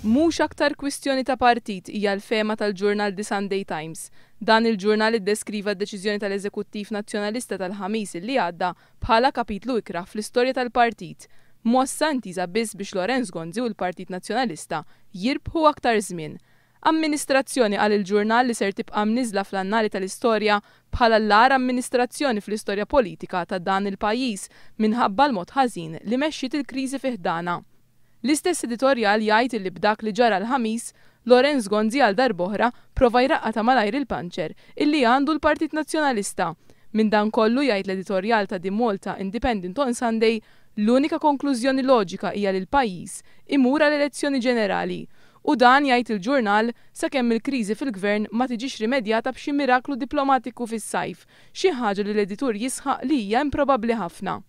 Mhux aktar kwistjoni ta' partit hija l-fehma tal-ġurnal The Sunday Times. Dan il-ġurnal iddeskriva d-deċiżjoni tal-Eżekuttiv Nazzjonalista tal-Ħamis illi għadda bħala kapitlu ikrah fl-istorja tal-partit, mossa intiża biss biex Lawrence Gonzi u l-Partit Nazzjonalista jirbħu aktar żmien. Amministrazzjoni għal il-ġurnal li ser tibqa' mniżżla fl-annali tal-istorja bħala l-agħar amministrazzjoni fl-istorja politika ta' dan il-pajjiż minħabba l-mod ħażin li mexxiet il-kriżi fi ħdanha. L-istess editorjal jgħid illi b'dak li ġara l-Ħamis, Lawrence Gonzi għal darb'oħra prova jraqqa' ta' malajr il-panċer illi għandu l-Partit Nazzjonalista. Minn dan kollu, jgħid l-editorjal ta' The Malta Independent on Sunday, l-unika konklużjoni loġika hija li l-pajjiż imur għal elezzjoni ġenerali. U dan, jgħid il-ġurnal, sakemm il-kriżi fil-Gvern ma tiġix rimedjata b'xi miraklu diplomatiku fis-sajf, xi ħaġa li l-editur jisħaq li hija improbabbli ħafna.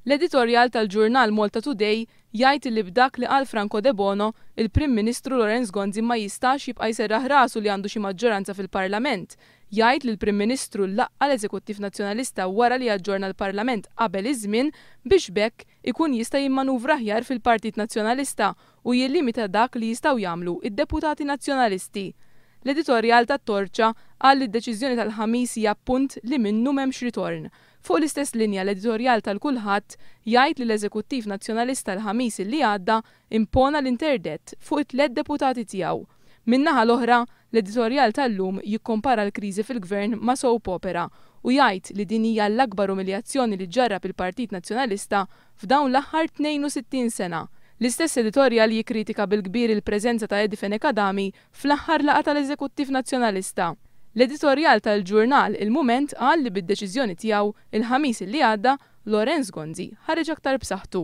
L-editorjal tal-ġurnal Malta Today jgħid li b'dak li qal Franco Debono, il-Prim Ministru Lawrence Gonzi ma jistax jibqa' jserraħ rasu li għandu xi maġġoranza fil-Parlament. Jgħid li l-Prim Ministru laqqa' l-Eżekuttiv Nazzjonalista wara li aġġorna l-Parlament qabel iż-żmien biex b'hekk ikun jista' jimmanuvra aħjar fil-Partit Nazzjonalista u jillimita dak li jistgħu jagħmlu d-deputati Nazzjonalisti. L-editorjal ta' Torċa qal li d-deċiżjoni tal-Ħamis hija punt li minnu m'hemmx ritorn. Fuq l-istess linja l-editorjal tal-Kulħadd jgħid li l-Eżekuttiv Nazzjonalista l-Ħamis illi għadda impona l-interdett fuq it-tliet deputati tiegħu. Min-naħa l-oħra, l-editorjal tal-lum jikkompara l-kriżi fil-Gvern ma' soap opera u jgħid li din hija l-akbar umiljazzjoni li ġġarrab il-Partit Nazzjonalista f'dawn l-aħħar 62 sena. L-istess editorjal jikkritika bil-kbir il-preżenza ta' Eddie Fenech Adami fl-aħħar laqgħa tal-Eżekuttiv Nazzjonalista. L-editorjal tal-ġurnal il-Mument qal li bid-deċiżjoni tiegħu l-Ħamis li għadda, Lawrence Gonzi ħareġ aktar b'saħħtu.